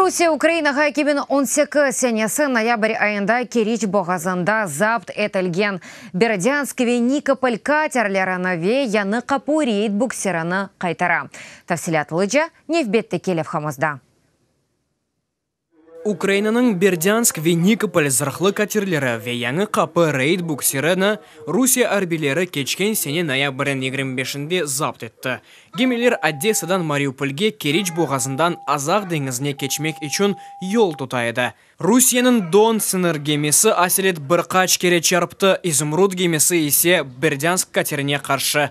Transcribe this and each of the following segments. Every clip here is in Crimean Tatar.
Rusiye Ukrainağa eki biñ on sekiz senesi noyabr ayında Keriç boğazında zapt etilgen Berodânsk ve Nikopol katerlerini ve Yanı Qapu reyd bukserini qaytara. Tafsilâtlıca nevbetteki levhamızda. Ukrainanıñ Berdânsk ve Nikopol zırhlı katerleri ve yañı qapı reyd bukserini Rusiye arbiyleri keçken sene noyabrniñ yigirmi beşinde zapt etti. Gemiler Odessadan Mariupolge Keriç boğazından Azaq deñizine keçmek içün yol tuta edi. Rusiyeniñ Don sıñır gemisi Aselet bir qaç kere çarptı, İzumrud gemisi ise Berdânsk katerine qarşı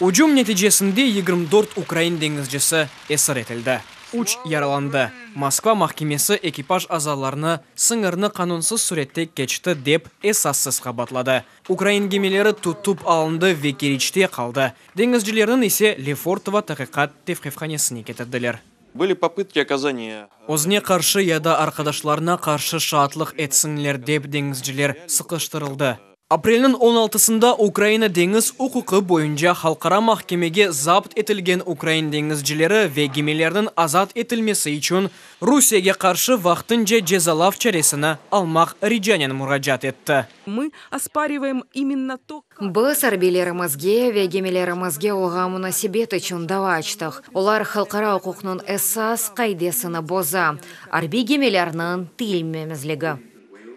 Ücüm neticesinde yigirmi dört ukrain deñizcisi esir etildi, üç yaralandı. Moskva mahkemesi ekipaj azalarını sıñırnı qanunsız sürette keçti dep esassız qabaatladı. Ukrain gemileri tutup alındı ve Keriçte qaldı, deñizcilerniñ ise Lefortovo taqiqat tevqifhanesine ketirdiler. Böyle popıtki okazaniya. Özüne qarşı ya da arqadaşlarına qarşı şaatlıq etsinler dep deñizciler sıqıştırıldı. Aprelniñ on altısında Ukraina deñiz uquqı boyunca halqara mahkemege zapt etilgen ukrain deñizcileri ve gemilerniñ azat etilmesi içün Rusiyege qarşı vaqtınca cezalav çaresini almaq ricanen muracaat etti. Biz arbiylerimizge ve gemilerimizge olğan munasebet içün dava açtıq, olar halqara uquqnıñ esas qaidesini boza, arbiy gemilerniñ tiyilmemezligi.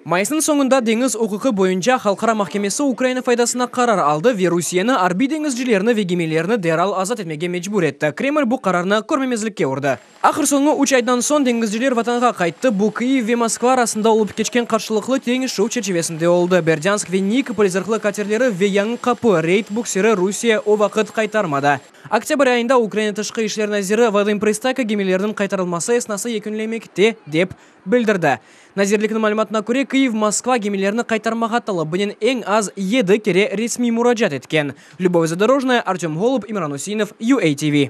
Mayısnıñ soñunda Deñiz uquqı boyunca halqara mahkemesi Ukraina faydasına qarar aldı ve Rusiyeni arbiy deñizcilerni ve gemilerni deral azat etmege mecbur etti, Kreml bu qararnı körmemezlikke urdı. Ahır soñu, üç aydan soñ deñizciler Vatanğa qayttı. Bu Kyiv ve Moskva arasında olıp keçken qarşılıqlı teñişüv çerçivesinde oldı. Berdyansk ve Nikopol zırhlı katerleri ve Yañı Qapı reyd buksiri Rusiye o vaqıt qaytarmadı. Oktâbr ayında Ukraina tışqı işler naziri Vadım Pırıstaka gemilerniñ qaytarılması esnası yekünlemekte, dep bildirdi. Nazirlikniñ malümatına köre, Kıyiv Moskva gemilerni qaytarmağa talabınen eñ az yedi kere resmiy muracaat etken. Lübov Zadorojnaya, Artem Holub, İmran Üseinov, UATV.